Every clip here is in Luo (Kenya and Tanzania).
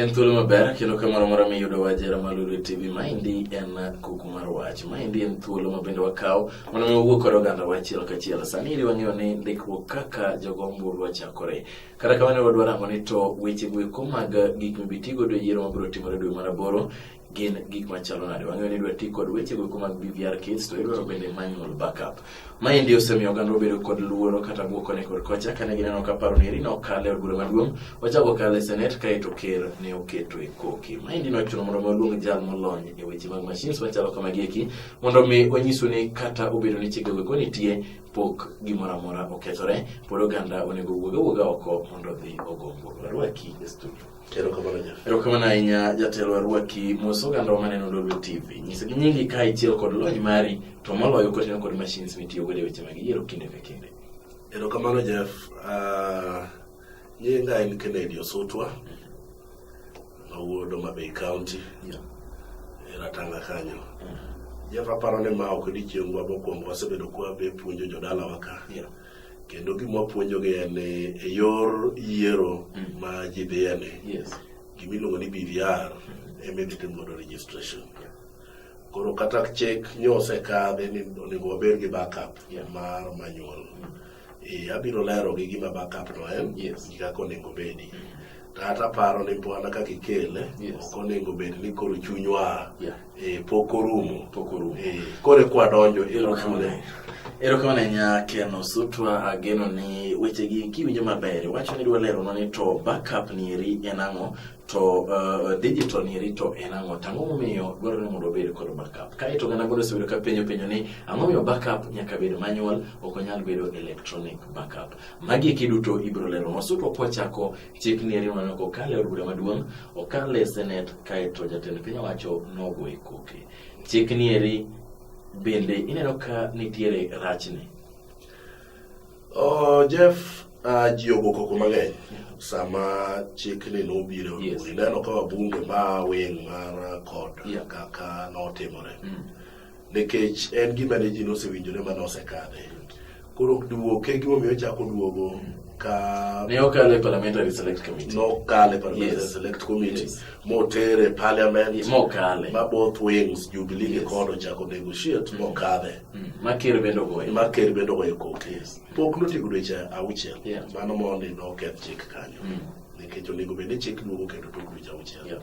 En thuolo maber kendo ka moro mora miyudo wajera malulu e TV. Maendi en kuku mar wach. Maendi en thuolo ma bende wakawo mondo mi wawuo kod oganda wachiel kachiel. Sani ili wang'eyo ni ndikruok kaka jogo ombulu ochakore. Kata kamano wadwaro ang'o ni to weche goeko mag gik mibitigodo e yiero mabiro timore dwe mar aboro gin gik machalo nade wang'eyo ni idwa ti kod weche goeko mag bvr kits to idwaro bende manual backup maendi osemiyo oganda obedo kod luoro kata bwok koni kod kocha kane gineno ka paro ni eri nokale od bura maduong' ochako kale senet kaeto ker ne oketo e koki maendi nochuno mondo mi oluong jal molony e weche mag machines machalo kamagi eki mondo mi onyisu ni kata obedo ni chike goeko nitie pok gimoro amora okethore pod oganda onego wuog awuoga oko mondo odhi ogo mbulu arwaki e studio Erokamano ahinya jatelo arwaki mos oganda wa maneno Lolwe TV. Nyisa gi nyingi ka ichiel kod lony mari to moloyo kotineno kod machines mitiyo godo e weche mag yiero kinde ka kinde. Erokamano Jeff. Uh, nyinga en Kennedy Osutwa mawuod Homa Bay County yeah. e Ratanga kanyo. Mm. Jeff aparo ni ma ok odiochiengwa mokwongo wasebedo kwabe puonjo jodalawa ka. Yeah. kendo gima wapuonjogi en ni e yor yiero mm. ma ji dhiyeni yes. gima iluongo ni BVR mm. ema idhi timodo registration yeah. koro kata chik nyosekadhi ni onego wabed gi backup yeah. mar manual mm. e, abiro lero gi gima backup no en yes. gi kaka onego bedi mm. kata paro ni pwana kaka ikele yes. ok onego bed ni koro chunywa yeah Eh, pok orumo. Pok orumo. Eh, kore kwa donjo ero kamano. Ero kamano nya keno sutwa ageno ni weche gi kiwinjo maber. Wacho ni dwa lero ni to backup ni eri en ang'o to uh, digital ni eri to en ang'o tang'o momiyo dwarore ni mondo obed kod backup. Kae to gana godo sebedo ka penyo penyo ni ang'o miyo backup nyaka bed manual ok onyal bedo electronic backup. Magi kiduto ibro lero. Wasutwa kwa chako Chik ni ariyo nano kokalo e od bura maduong', okalo e senet kaeto jatend piny owacho nogoye koke. Chik ni eri bende ineno ka nitiere rachne? Oh, Jeff, uh, ji ogo koko mang'eny sama chikni nobiro e yes. ineno ka wabunge ma wing' mar kod yeah. kaka notimore mm. nikech en gima ne ji nosewinjore ma nosekadhe. Koro duoke kegima gimomiyo ochako duogo ka ne okale parliamentary select committee nokale parliamentary yes. select committee yes. motere parliament mokale ma both wings jubilee yes. kod ochako negotiate mm. mokadhe mm. maker bendo goyo maker bendo goyo kok yes. pok notigo dweche auchiel yeah. mano mondi noketh chik kanyo mm. nikech onego bed ni chik duogo kendo tok dweche auchiel yeah.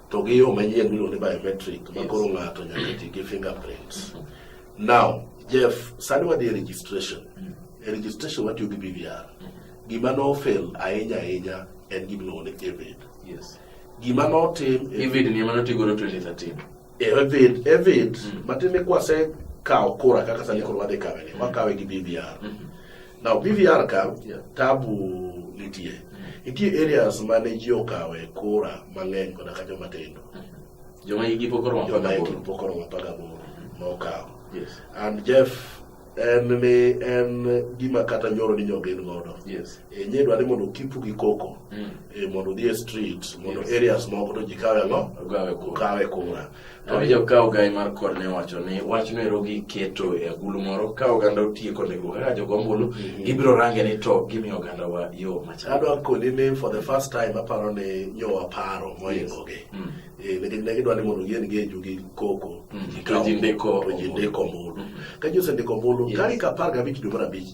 To gi yo manyien miluongo ni biometric ma koro ng'ato nyaka ti gi fingerprints. Mm-hmm. Now, Jeff, sani wadhi e registration. Mm. E registration watiyo gi BVR. Mm-hmm. Gima no fail ahinya ahinya en gima iluongo ni EVID. Yes. Gima no tim EVID ni ema notigo 2013. EVID, EVID, mm. matiende kwase kawo kura kaka sani koro wadhi kawe ni, wakawe gi BVR. Mm-hmm. Now PVR ka yeah. tabu nitie. Mm-hmm. Nitie areas ma ne ji okawe kura mang'eny koda ka joma tindo. Mm-hmm. Joma igi pok oromo apar gaboro. Joma igi pok oromo apar gaboro mm-hmm. ma okawo. Yes. And Jeff en ni en gima kata nyoro ni nyogen godo yes. e nye dwa ni mondo kipu gi koko mm. e mondo odhi e street mondo yes. areas moko to ji kawe ngo kawe kura To ni joka ogai mar kod ne wacho ni wach no ero giketo e agulu moro ka oganda otieko ndiko kaka jogo ombulu mm-hmm. gibiro range ni to gimi oganda wa yo machal. Adwa koni ni for the first time aparo ni nyo aparo moingo gi. Mm. Eh ne ne gidwa ni mondo gien gi eju gi koko. Mm. Ka jindiko to jindiko ombulu. Mm. Ka jose ndiko ombulu kari ka par ga bich dwe mar abich.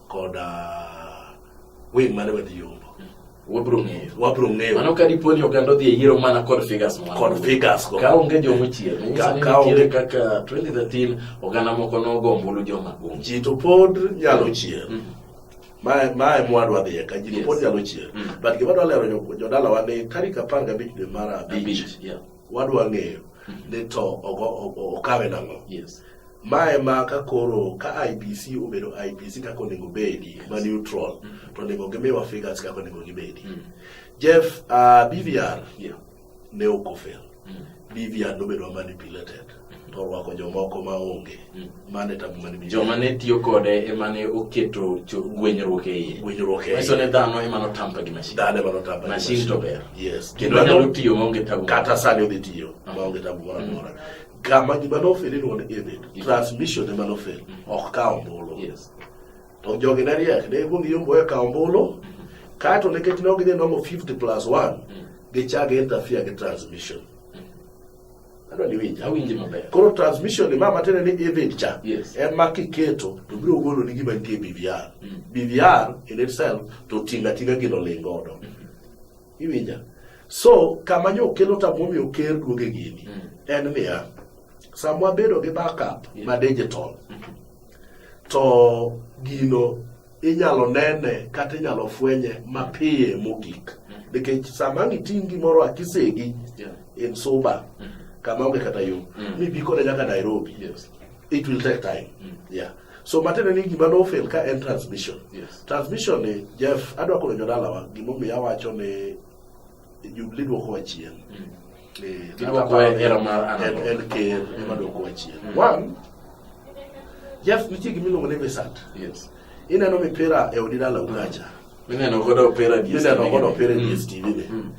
koda wing mane wadhi yombo wabro ng'eyo wabro ng'eyo mano ka dipo ni oganda odhi e yiero mana kod figures moko kod figures go ka onge joma chier ka ka onge kaka 2013 oganda moko nogo ombulu joma kum ji to pod nyalo mm. chier mm. ma ma e mwadwa dhi ka ji to pod nyalo chier mm. but gima dwa lero jodala wa ni tarik 15 dwe mar abich wadwa ng'eyo ni to okawe nang'o mae ma ka koro ka IBC obedo IBC kaka onego bedi ma neutral to onego gimiwa figures kaka onego gibedi mm. Jeff uh, BVR ne ok ofel mm. BVR nobedo manipulated to orwako jomoko ma onge mm. mane tabu mane bi joma ne tiyo kode ema ne oketo gwenyruok e iye gwenyruok e iye ne dhano ema no tampa gi mashin dhano ema no tampa mashin to ber yes kendo nyalo tiyo ma onge tabu kata sani odhi tiyo ah. ma onge tabu moro amora mm. kama gima nofeli ni won ebet transmission ema nofel mm. ok ka ombulu yes to jogi ne riek ne ikwong iyombo e ka ombulu mm-hmm. kaeto nikech ne ok gidhi nomo 50 plus 1 gichak interfere gi transmission adwa ni winj awinji maber koro transmission ni mama tene ni event cha yes. ema kiketo to biro golo ni gima nitie BVR mm. BVR in itself to tinga tinga gino ling godo mm -hmm. iwinja so kama nyo kelo ta momi oker duoge gini mm. en niya samwa bedo gi backup yes. ma digital mm -hmm. to gino inyalo nene kata inyalo fwenye mapiye mogik nikech sama ang' iting' gimoro akisegi in suba mm. kama onge kata yo mm. mi bi kode nyaka nairobi it will take time mm. yeah so matiende ni gima nofel ka en transmission yes. transmission ni jeff adwa kono jodalawa gimomiyo awacho ni Jubilee dwokowa chien. Eh, Gidwoko e hera mar an en, en ker ema dwokowa chien. Mm. One, Jeff nitie gima iluongo ni visat. Yes. Ineno mipira e odi dala ukacha. Mineno godo opera DSTV. Mineno godo opera Mm. DSTV ni. Mm.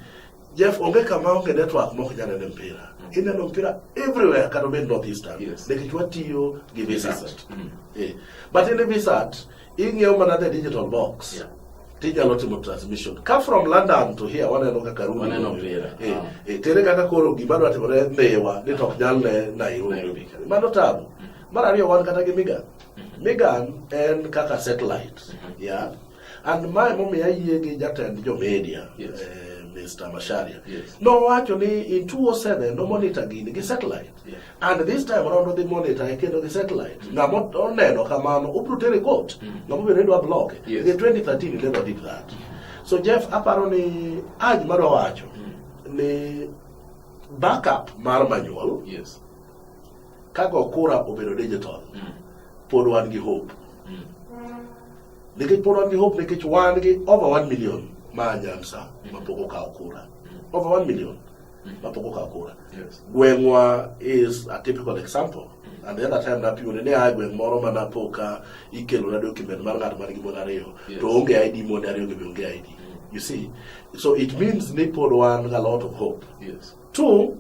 Jeff onge kama onge network mok nyal nene mpira. Ineno mpira everywhere kata obed northeastern. Yes. Nikech watiyo gi visat. Mm. Eh, But in the visat ing'iewo mana the digital box yeah tinyalo timo transmission ka from london to here waneno kaka ruitere eh, eh, kaka koro gima dwa timore miwa ni tok nyal ne nairobi mano tabu mm-hmm. mar ariyo wan kata gi migan mm-hmm. migan en kaka satellite mm-hmm. ya and mae momiyo ayie gi jatend jo media eh, mr masharia nowacho ni in 207 nomonitor gini gi satellite and this time around odhi monitor e kendo gi satellite mm. ng'ama oneno kamano obro tere court mm. ng'ama obiro ni dwa block yes. the 2013 he never did that so Jeff aparo ni aj madwa wacho mm. ni backup mar manual yes. kago kura obedo digital mm. pod wan gi hope mm. nikech pod wan gi hope nikech wan gi over 1 million ma anyansa mm. mapok okawo kura mm. over 1 million mapogo ka kura yes. gweng'wa is a typical example and the other time napiwone ne aye gweng' moro ma napo ka ikelona document mar ng'at man gi mon ariyo yes. to onge id monde ariyo gi be onge id you see so it means ni pod wan ga lot of hope yes. two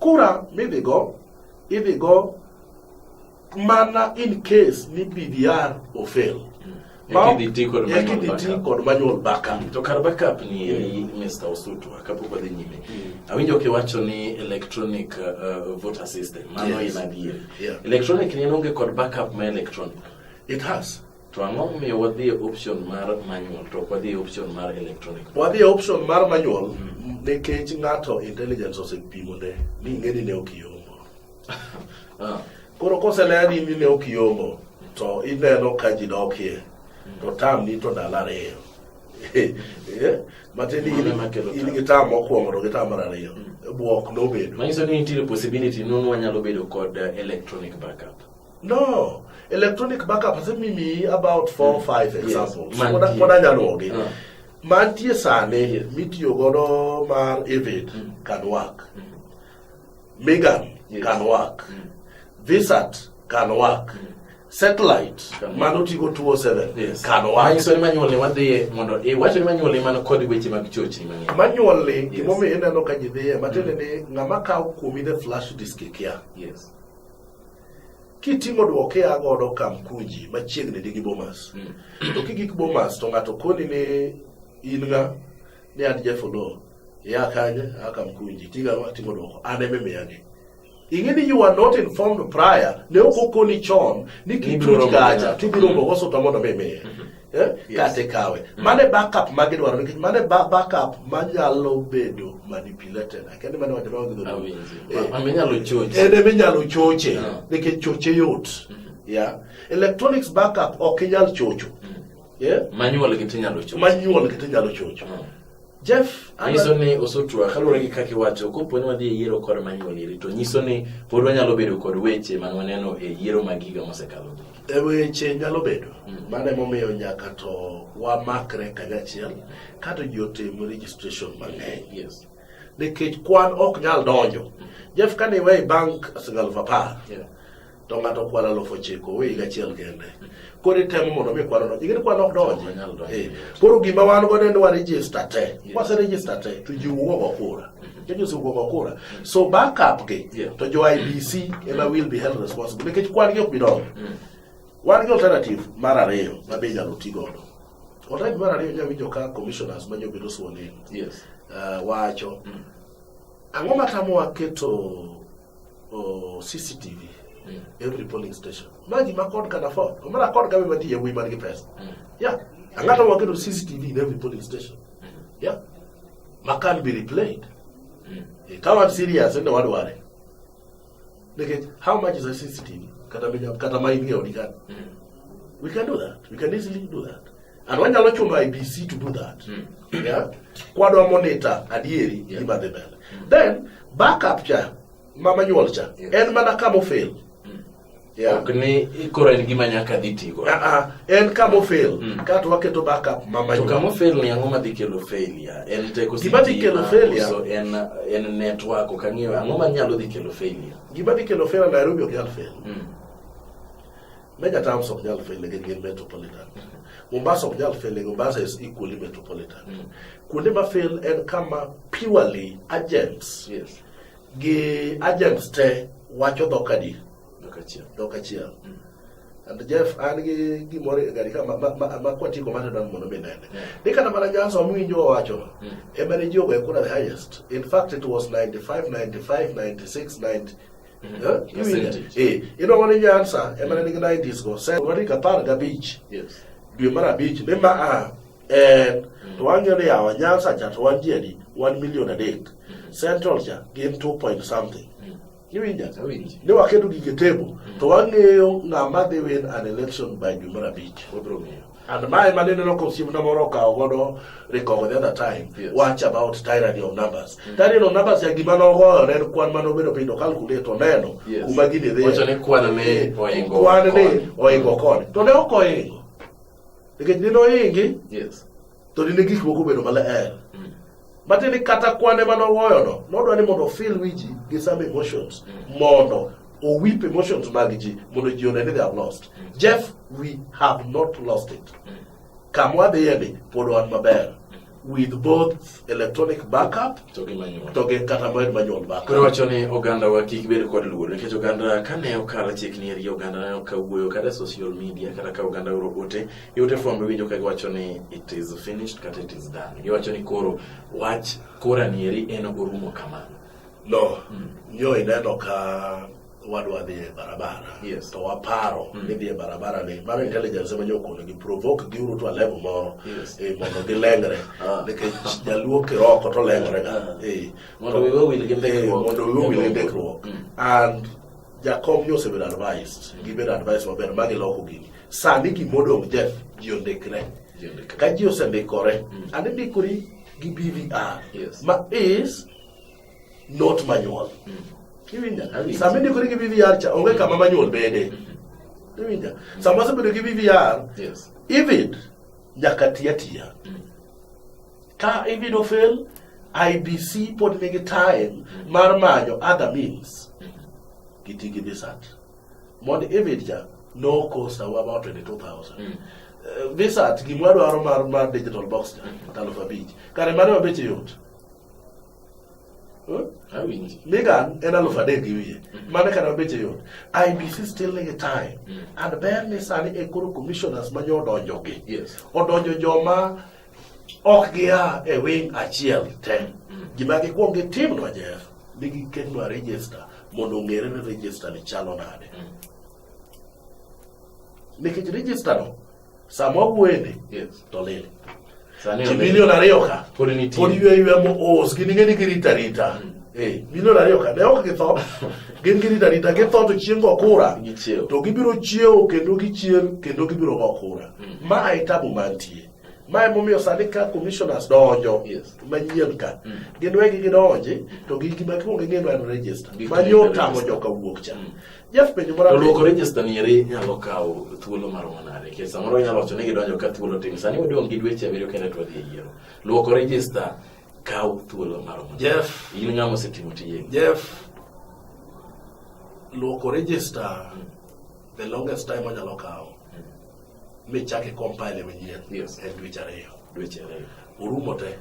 kura midhigo idhigo mana in case ni BVR ofail Ekidhi ti kod manual ekidhi ti backup. kod manual backup to kar backup ni eri Mr. Osutwa kapok wadhi nyime awinjo kiwacho ni electronic uh, voter system mano Yes. in adieri Yeah. electronic ni en onge kod backup ma electronic it has to ang'o momiyo wadhi e option mar manual to ok wadhi e option mar electronic wadhi e option mar manual nikech ng'ato intelligence osepimone ni ing'eni ne ok iom Ah. Koro koseleni ni ne ok iongo to ineno ka ji dokie to tam ni to ndalo ariyo eh, matin in gi tam mokwongo to gi tam mar ariyo mm. bwok nobedo manyiso ni nitiere possibility nun wanyalo bedo kod eh, electronic backup no electronic backup asemimi about four mm. five examples pod anyalogi ah. mantie sani mitiyo godo mar evid mm. can work mm. Megan yes. can work mm. Visat can work mm. satellite mano tigo 207 yes. can work manyiso ni manyuolni wadhiye mondo iwacho ni manyuolni mano kod weche mag chochni mang'eny manyuolni yes. gimomiyo ineno ka ji dhiye matiende mm. ni ng'ama kawo kuomi the flash disk ikia yes. kitimo dwoke a godo kamkuji machiegni gi bomas mm. to kigik bomas to ng'ato koni ni in ng'a ni an jefolo yakanye akamkunji tiga timo dwoko an eme miyagi ing'e ni you are not informed prior ne ok okoni chon ni kichuch kacha tibiro mbogo suta mondo mi miye mm-hmm. eh? kata ikawe mm-hmm. mane backup ma gidwaro nikech mane backup manyalo bedo manipulated akendi mane wacho nawa gidhoneminyalo eh. choche en eminyalo choche ah. nikech choche yot mm-hmm. ya electronics backup ok inyal chocho eh? manyuol gi tinyalo chocho Jeff nyiso ni osotwa kaluwore gi kaka iwacho kopo ni wadhi e yiero kod manyuoliri to nyiso ni pod wanyalo bedo kod weche man waneno e yiero mag higa mosekalo e weche nyalo bedo hmm. mano emomiyo nyaka to wamakre kanyachiel kato ji otim registration mang'eny yes. nikech kwan ok nyal donjo hmm. jeff kane iwe bank sigalf apar yeah. to ng'ato kwalo alufu ochiko owe higa achiel kende koro itemo mondo mi kwano donji ingeni kwano ok donji eh, koro gima wan godo en warejista te kwase rejista te to ji wuogo kura judges mm-hmm. wuogo kura so backup gi to jo ibc ema will be held responsible nikech kwan gi ok bi donjo mm. wan gi alternative mar ariyo ma be inyalo ti godo alternative mar ariyo inyalo winjo ka commissioners ma nyobedo sworn in eh, wacho mm. ang'o matamowa keto CCTV mm. every polling station magi ma kod can afford omara kod gabe mati yewuoyi man gi pesa mm. yeah ang'ata waketo CCTV in every polling station mm. yeah ma can be replayed mm. Eh, ka wan serious ende wadware nikech how much is a CCTV kata kata ma in e odi kan mm. we can do that we can easily do that And wanyalo chuno IBC to do that. Mm. Yeah? Kwadwa monitor adieri yeah. gima dhi mbele. Mm. Then backup cha mama nyuol cha yes. en mana kama ofel. Mm. Yeah. Ok ni koro en gima nyaka dhi tigo. Ah ah, en kama ofel. Mm. Kato waketo backup mama nyuol. To kama ofel ni ang'o madhi kelo failure? En teko si gima dhi kelo failure. So en en network ok ang'eyo ang'o manyalo dhi kelo failure. Gima dhi kelo failure Nairobi ok nyal fail. Mm. Make a town of Jal Fele get metropolitan. Mombasa of Jal Fele, Mombasa is equally metropolitan. Mm. Kuonde ma fail en kama purely agents. Yes. Gi agents te wacho dhok adi? Dhok achiel. Dhok achiel. Mm. And Jeff an gi gimoro e gari ka ma ma ma kwati ko mane dan mondo mi nene. Mm. Ni kana mana janso mi winjo wacho. Mm. E mane jogo e kuna the highest. In fact it was 95 95 96 90 ino wani nyansa ema ne nigi 90s go sen wani ka par gabich dwe mar abich ne ma a en mm. to wang'eyo ni yawa nyansa cha to wan ji adi wan milion adek mm. central cha gin 2 point something mm. iwinja ni waketo gige tebo to wang'eyo ng'ama dhi win an election by dwe mar abich And my man in the local team number of Kaogodo, Rico, the other time, yes. watch about tyranny of numbers. Mm -hmm. Tyranny of numbers, ya gimana ogo, nen kwan mano bedo pindo calculate oneno, yes. kumagini dhe. Wacha ne kwan ne oingo. Kwan ne oingo kone. To ne oko oingo. Nikech nino oingi, yes. to nine gik moko bedo maler. Mm. Matiende ni kata kwane mane owoyono nodwa ni mondo ofil wi ji gi some emotions mm. mondo owip emotions mag ji mondo ji one ni they have lost. Mm. Jeff, we have not lost it. Mm. Kamwa dhiyeni pod wan maber with both electronic backup to gi manual to gi kata moed manual backup koro wacho ni oganda wa kik bed kod luoro nikech oganda kane okalo chik ni eri oganda ne okawuoyo kata social media kata ka oganda oro ote Ute fwambo iwinjo ka giwacho ni it is finished kata it is done. Giwacho ni koro wach kora nieri en orumo kamano. No, mm. yo ineno ka wadwa dhi e barabara yes. to waparo mm. ni dhi e barabara ni mano intelligence ema nyokono gi provoke gi uru to level moro yes. e, mondo gilengre ah. nikech jaluo kiroko to lengre ga ah. e, mondo wiwe wil gi ndikruok and Jakom ni osebedo advised, gibedo advice maber ma giloko gini. Sani gimodong' Jeff, ji ondikre. Ka ji osendikore, mm. and indikori gi BVR, yes. ma is not manual. Mm. Kiwinja? Sama indikori gi BVR cha, onge kama manual bede. Mm -hmm. Iwinja? Mm. Sama asebedo gi BVR, yes. even nyaka tiya tiya. Mm. Ka ibin ofel, IBC pod nigi time mar manyo other means. Giti gi visat. Mondo ibed ja no cost awa about 22,000. Mm. Uh, visat gimwa dwaro mar, mar digital box ja, mm. aluf abich. Kare mane wabeche yot. Huh? Awinji. Migan en aluf adek gi wiye. Mm. Mane kare wabeche yot. IBC still nigi time. Mm. And ber ni sani e koro commissioners ma nyo odonjo gi. Yes. Odonjo joma ok gia e wing achiel te gima gikwong gitimnwa jeff ni giketnwa register mondo ong'ere ni register ni chalo nade nikech register no sama wawuoyeni to lil ji milion ariyo ka pod ywe ywe moos gin ing'e ni girita rita mm. eh, milion ariyo ka ne ok githo gin girita rita githo to chieng' go kura to gibiro chiewo kendo gichier kendo gibiro go kura mm. ma e tabu mantie ma emomiyo sani ka commissioners donjo yes. manyien ka mm. gin wegi gidonji to gi gima kwongo ing'eno en register manyo tamo joka wuok cha mm. Jeff penjo moro to luoko register ni eri nyalo kawo thuolo mar manade ke samoro nyalo wacho ni gidonjo ka thuolo tin sani wadong gi dweche abiriyo kende to wadhi e yiero luoko register kawo thuolo mar manade Jeff in ng'ama osetimo tiye Jeff luoko register mm. the longest time onyalo kawo michake compile manyien yes. en dweche ariyo dweche ariyo orumo te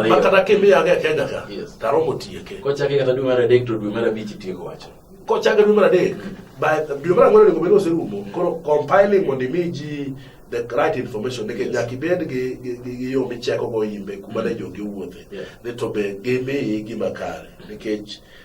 makata kimiyaga e kenya ka taromo tieke kochake kata dwe mar adek to dwe mar abich itieko wacho kochake dwe mar adek dwe mar ang'wen onego bed oserumo koro compiling mondo imi ji the right information nikech nyaka ibed gi yo michekogo imbe kuma ne mm. jogi owuothe ni to be gimiyi gima kare nikech mm.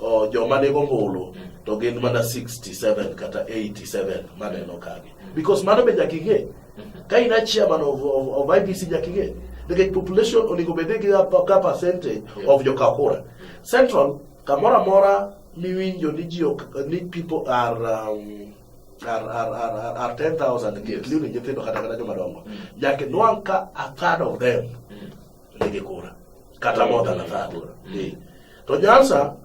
oh, joma nigo ombulu to gin mana 67 kata 87 maneno kagi because mano be nyaka ing'e ka in a chairman of, of, of IBC nyaka ing'e nikech population onego bed gi ka percentage of jokakura central kamoro amora miwinjo ni ji ni people are um, are, are, are, are 10,000 yes. including nyithindo kata kata joma dongo mm. nyaka nwang' ka a third of them mm. lege kura kata more than a third eh. to nyansa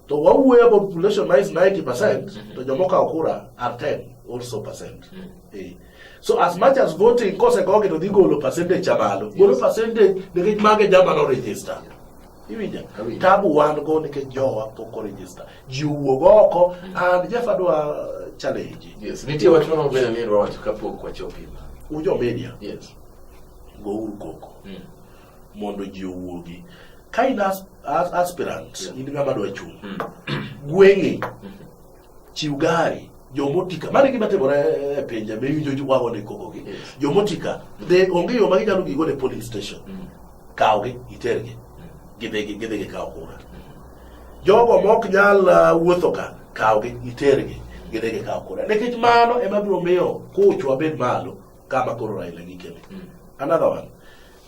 to wawuoyo about population na is 90 percent mm-hmm. to joma okawo kura are 10 also percent mm. eh. so as much as voting kosegogi to dhi golo percentage cha malo golo percentage nikech mage jama no register iwinja tabu wan go nikech jowa pok orejista ji wuog oko mm. and jeff adwa challenge yes nitie wach moro maber ni wacho kapok wachopo ujo media yes gouru koko mm. mondo ji owuogi ka in as, as, aspirant yeah. in ng'ama dwa chung' mm. gweng'i mm. chiw gari jomotika mane gima timore e pinje miwinjo wago ni kokogi yes. jomotika de onge yo ma ginyalo gigo ne polling station mm. kawgi itergi mm. gidhi gidhi gikawo kura jogo mok nyal uh, wuotho ka kawgi itergi gidhi gikawo kura nikech mano ema biro miyo kuchwa bed malo kama koro Raila gi Kele. Mm. Another one.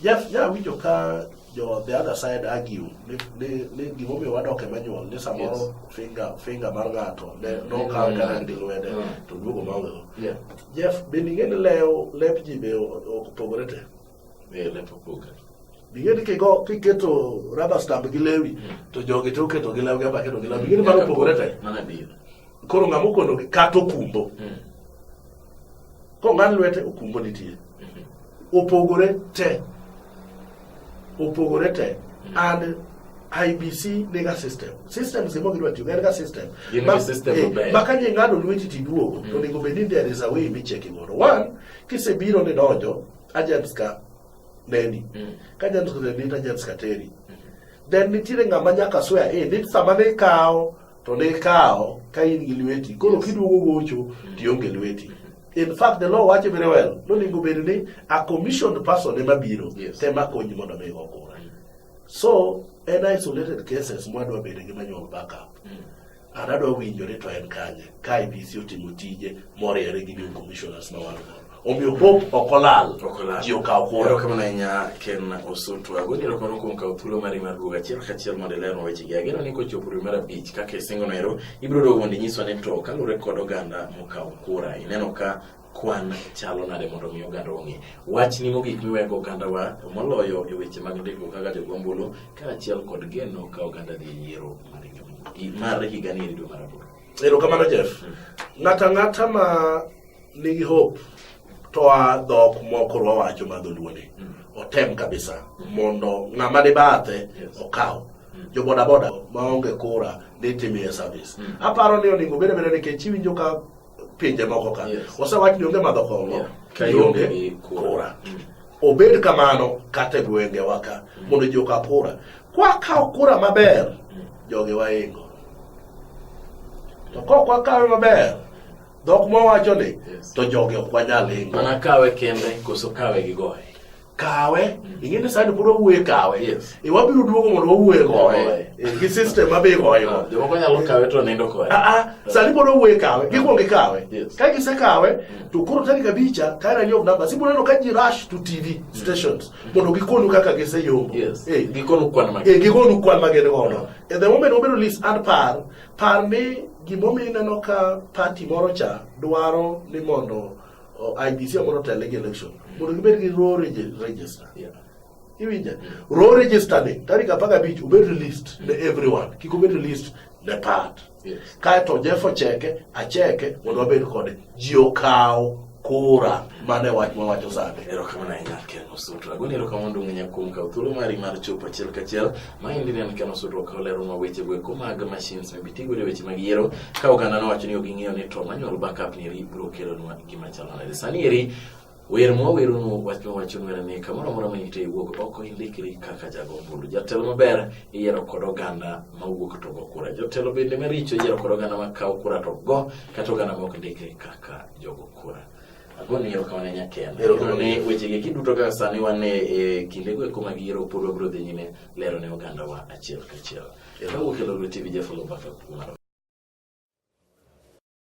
Ja ja winjo ka jo the other side argue ni ni ni gimo mi wadok e manual ni samoro yes. finger finger mar ngato ne mm. no ka ka ndi lwede mm. to duogo ma wewe. Yeah. Jeff bende ngene leo lep ji be opogore te. Be lep opogore. Bingeni kigo kiketo rubber stamp gi lewi mm. to jogi to keto gi lewi ba keto gi lewi. Bingeni mano opogore te. Mana bi. Koro ngamo kono kato kumbo. Mm. Kong'ad lwete okumbo nitie. Opogore te. Opogore te. And IBC nega system. System simo gidwa tiyo en ga system. Gin ma, system eh, maber. Maka ni ng'ado lweti tiduogo mm. to onego bed ni there is a way micheki godo. One, kisebiro ni donjo agents ka neni. Mm. Ka agents ka neni agents ka teri. Mm. Then nitiere ng'ama nyaka swear in. Eh, Nit sama ne kawo to ne ikawo ka in gi lweti koro kiduogo gocho tionge lweti in fact the law wacho very well nonego bed ni a commissioned person ema biro yes. tema konyi mondo mi go kura so en isolated cases mwadwa bedo gi manual backup mm. an adwa winjore to en kanye ka IBC otimo tije moriere gi new commissioners ma wan godo omiyo hope ok olal ji okaw kuoro erokamano ahinya ken osutu agoni erokamano kuom kawo thuolo mari mar duogo achiel kachiel mondo ilerno wechegi ageno ni kochopo dwe mar abich kaka isingo noero ibiro duogo mondo inyiswa ni to kaluwore kod oganda mokawo kura ineno ka kwan chalo nade mondo mi oganda ong'e wach ni mogik miwego oganda wa moloyo e weche mag ndiko kaka jogombulu kaachiel kod geno ka oganda dhi e yiero mar higa ni dwe mar aboro erokamano jeff hmm. ng'ata ng'ata ma nigi hope to a dhok moko rwawacho ma dholuoni mm. otem kabisa mondo ng'ama ni bathe okaw mm. jo bodaboda maonge kura ni timie service mm. aparo ni oningo bede bede nikech iwinjo ka pinje moko ka osewach ni onge madho kongo ionge kura obed kamano kata e gwenge waka mondo ji oka kura kwakawo kura maber jogi waingo to kok wakawe maber Dhok ma wacho ni Yes. to joge ok wanyal hingo. Mana kawe kende koso kawe gi goye. Kawe, ing'e ni sani pod wawuoye kawe. Yes. E wabiro duogo mondo wawuoye goye. Goye. E, Gi system ma be goye go. Jomoko nyalo kawe to nindo kode. Ah, ah, sani pod wawuoye kawe, gikwongo gikawe. Yes. Ka gisekawe, to koro tarik abicha, kae rani of numbers, ibiro neno ka ji rush to TV stations mondo gikonu kaka giseyombo. Yes. Eh, Gikonu kwan mag. eh, gikonu kwan ma gin godo. E the moment wabiro list and par, Par ni gimomiyo ineno ka pati moro cha dwaro ni mondo IBC mondo otel gi election mondo gibed gi raw register. Yeah. Iwinja? Raw register ni tarik apar gabich obed released ne everyone. Kik obed released ne part. Yes. Kaeto Jeff ocheke, acheke mondo wabed kode. ji okaw kura mane wach mawacho sande erokamano ahinya ken osuto agoni erokamano duong' nya kuom kawo thuolo mari mar chopo achiel kachiel ma endi ne en ken osuto okawo leronwa weche go eko mag machines mibitigo e weche mag yiero ka oganda nowacho ni ok ging'eyo ni to manual backup ni eri biro kelonwa gima chalo nade sani eri Wer ma wawerono wach ma wacho wer ni kamoro amora ma intie iwuog oko indikri kaka jago ombulu. Jatelo maber iyiero kod oganda ma wuok to go kura. Jotelo bende maricho iyiero kod oganda ma kawo kura to go kata oganda ma ok ndikre kaka jogo kura. Agoni ero kama ne nyaken. Ero kama ne weche gi kiduto kaka sani wan e kinde go kuma gi ero pod wabro dhi nyime lero ne oganda wa achiel kachiel. Ero wuok e Lolwe TV Jafalo Bakal Kumaro.